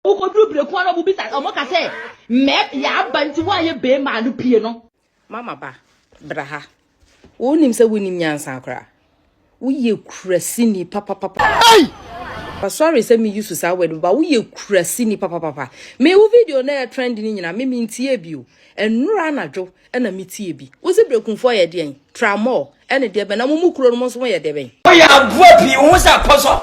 Wokɔduru berɛku a na wɔbisa wɔka sɛ mɛp yɛaba nti woayɛ bɛɛma a no pie no. Mama ba, bra ha. Wonim sɛ wonim nyansa koraa. Woyɛ kurasini papapapa. Hey! Sorry sɛ me use saa word ba woyɛ kurasini papapapa. Me wo video na yɛ trend ni nyina me me ntie bi o. Nnura anadwo na me tie bi. Wo se brekunfo yɛ deɛn? Tramɔ ɛne deɛ bɛn na mo mu kuro no mo nso mo yɛ deɛ bɛn? Woyɛ aboa pii wo ho sɛ apɔsɔ.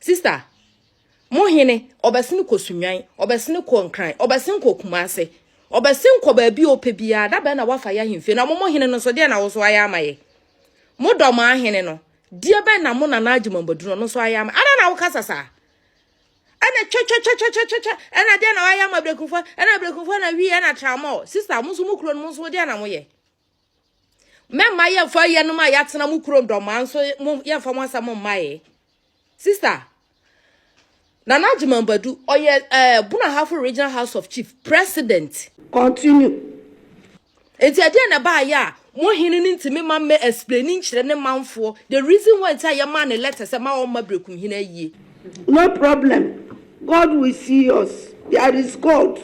Sister, mo hene, ɔbɛsene kɔ sunwan, ɔbɛsene kɔ nkran, ɔbɛsene kɔ kumase, ɔbɛsene kɔ baabi a ɔpɛ biara, da bɛn na wafa yɛ ahemfie na mo mo hene no so deɛ na wo so ayɛ ama yɛ. Mo dɔ mo ahene no, deɛ bɛn na mo nana agye mambadu no no so ayɛ ama, ɛna na wokasa saa. Ɛna twɛtwɛtwɛtwɛtwɛtwɛ, ɛna deɛ na wayɛ ama abirɛkunfoɔ, ɛna abirɛkunfoɔ na wii, ɛna tramɔɔ. Sister, mo nso mo kuro no mo nso deɛ na mo yɛ. mɛma yɛmfa yɛnom a yɛatena mo kuro ndɔmaa nso yɛmfa mo asɛm mmaeɛ sister nana agyemambadu ɔyɛ ɛɛ eh, bunahafo regional house of chief president continue nti ɛdeɛ na ɛbaayɛ a mo hene no ntumi ma mmɛ explain nkyerɛ ne manfoɔ the reason why nti a yɛmaa ne letter sɛ ma ɔmma berekum hene ayie No problem God will see us there is God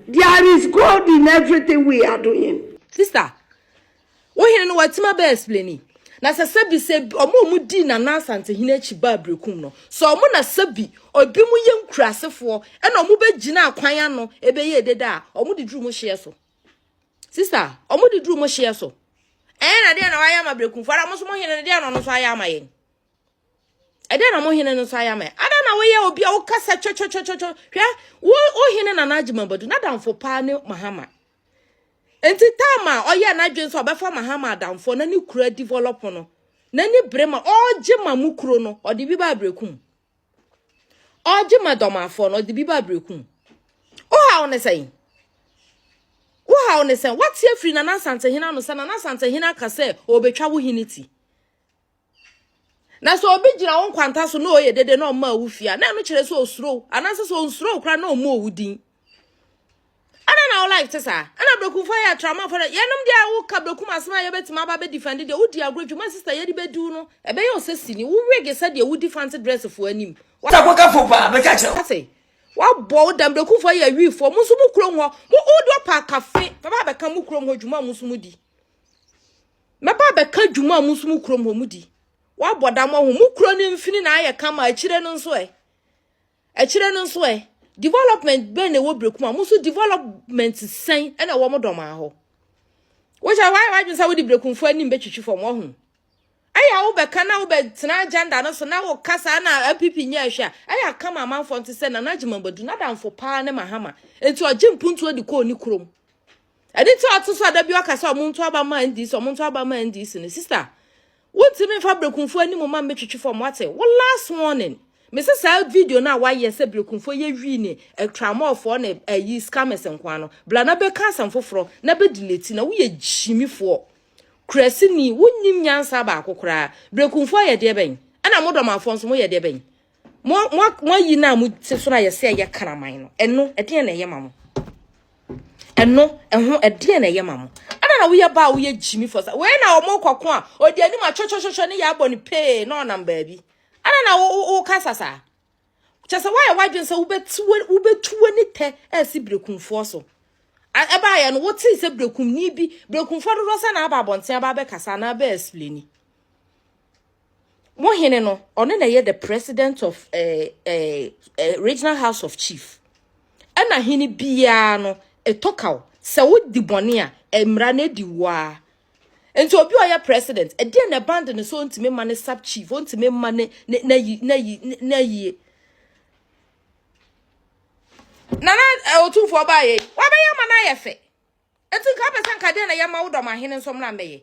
there is God in everything we are doing. Sister wo hene no watumi abɛ explaini na sɛ sɛbi sɛ ɔmo ɔmo dii nana asantehene akyi baa berekum no sɛ ɔmo na sɛbi obi mo yɛ nkurasefoɔ ɛna ɔmo bɛ gyina akwan ano ɛbɛyɛ ededa a ɔmo de duru mo hyeɛ so sister ɔmo de duru mo hyeɛ so ɛyɛ na deɛ na wayɛ ama berekumfoɔ ara mo nso mo hene no deɛ na ɔno nso ayɛ ama yɛn. ɛdɛn na mo hene no nso ayɛ ama yɛn ada na woyɛ obi a wokasa twɛtwɛtwɛtwɛ hwɛ wo wo hene na n'adwuma badu n'adamfo paa ne mahama nti taama a ɔyɛ n'adwene sɛ ɔbɛfa mahama adamfo na ne kura develop no n'ani bere ma ɔregye ma mu kuro no ɔde bi ba abrekum ɔregye ma dɔmafoɔ no ɔde bi ba abrekum wohaw ne sɛn wohaw ne sɛn wate afiri nana asantehene ano sɛ nana asantehene aka sɛ ɔbɛtwa wo hene ti na sɛ obi gyina wo nkwanta so na ɔyɛ dede na ɔma wo fia na ɛno kyerɛ sɛ osuro anaasɛ sɛ onsuro kora na ɔmmɔ wo din ɛna na wo life te saa ɛna brɛkumfo yɛ atramafo no yɛnom deɛ a woka brɛkum asɛm a yɛbɛtumi aba bɛdifɛnde deɛ wodi agorɔ dwuma sista yɛde bɛdiw no ɛbɛyɛ ɔsɛsini wowege sɛdeɛ wodi fanse drɛsefoɔ anim takɔkafo paa bɛka kyerɛ wo ase wabɔ wo dam brɛkumfo yɛ awiifoɔ mo nso mo kurom hɔ mo wode ɔpa akafe bɛba bɛka mo kurom hɔ dwuma mo nso modi Mɛba abɛka dwuma a mo nso mo kurom hɔ mo di. Wabɔ dam wɔ ho. Mo kuro no mfini na ayɛ kama akyire no nso ɛ. Akyire no nso ɛ. Development bɛn na ɛwɔ Brekum a mo nso development sɛn ɛna ɛwɔ mo dɔm ahɔ. Wohyɛ wayɛ wadwene sɛ wode Brekumfo anim bɛtwitwi fam wɔ ho. Ɛyɛ wo bɛka na wo bɛtena agenda no so na wo kasa na APP nyɛ ɛhwɛ a ɛyɛ akama amanfoɔ nte sɛ Nana Gyimabadu n'adamfo paa ne Mahama. Enti ɔgye mpuntuo de kɔɔ ne kurom. ɛde nti a ɔte so a da bi ɔka sɛ ɔmo nto aba ma ndc ɔmo nto aba ma ndc no sista wontumi nfa berekunfo anim ma mbɛtwitwi fam wate wo last warning mese saa video no a wayɛ sɛ berekunfo yɛ wii ne atramɔfoɔ ne ayi scammers nkoa no bla na bɛka asɛm foforɔ na bɛdeleti na woyɛ gyimifoɔ kurasini wonim nyansa baako koraa berekunfo ayɛ deɛ bɛn ɛna modɔmafoɔ nso moyɛ deɛ bɛn mo mo mo ayi na mo te so na yɛ sɛ yɛ kraman no ɛno ɛdeɛ na ɛyɛ ma mo ɛno ɛho ɛdeɛ na ɛyɛ ma mo ɛna na woyɛ ba a woyɛ gyimi fɔ sa wei na wɔn kɔko a ɔdi anim atwɛtwɛtwɛtwɛ ne yɛ abɔ ne pee na ɔnam baabi ɛna na wo wo woka sasa kyɛ sɛ woayɛ wadwene sɛ wobɛtu wobɛtu w'ani tɛ ɛsi berekumfoɔ so ɛbaayɛ no wote sɛ berekumni bi berekumfoɔ dodoɔ sɛ na aba abɔnten aba abɛkasa na abɛ explaini mo hene no ɔno na ɛyɛ the president of eh, eh, eh, regional house of chief ɛna hene biara no ɛtɔ kaw sɛ wodi bɔne a eh, mmara no adi woa nti obi a ɔyɛ president ɛdeɛ na ɛbande no sɛ ɔntumi ma ne sub chief ɔntumi ma ne n'ayi n'ayi n'ayie nana ɔtumfoɔ baayɛ wabɛyɛ ma no ayɛ fɛ ɛti nka wopɛ sɛ nka deɛ na yɛma wo dɔm ahene nso mmra mbɛyɛ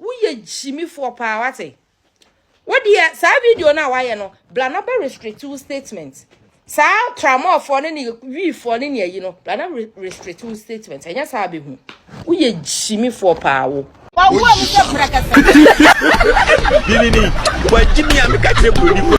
Woyɛ gyimifoɔ paa wate. Wo deɛ saa video no a wayɛ no bla na bɛ restrict wo statement. Saa tramɔfoɔ ne ne wiifoɔ ne ne ayi no bla na restrict wo statement. Ɛnyɛ saa bɛhu. Woyɛ gyimifoɔ paa wo. Wawuo mu sɛ prɛkɛsɛ. Dini ni, wajimi a meka kyerɛ buroni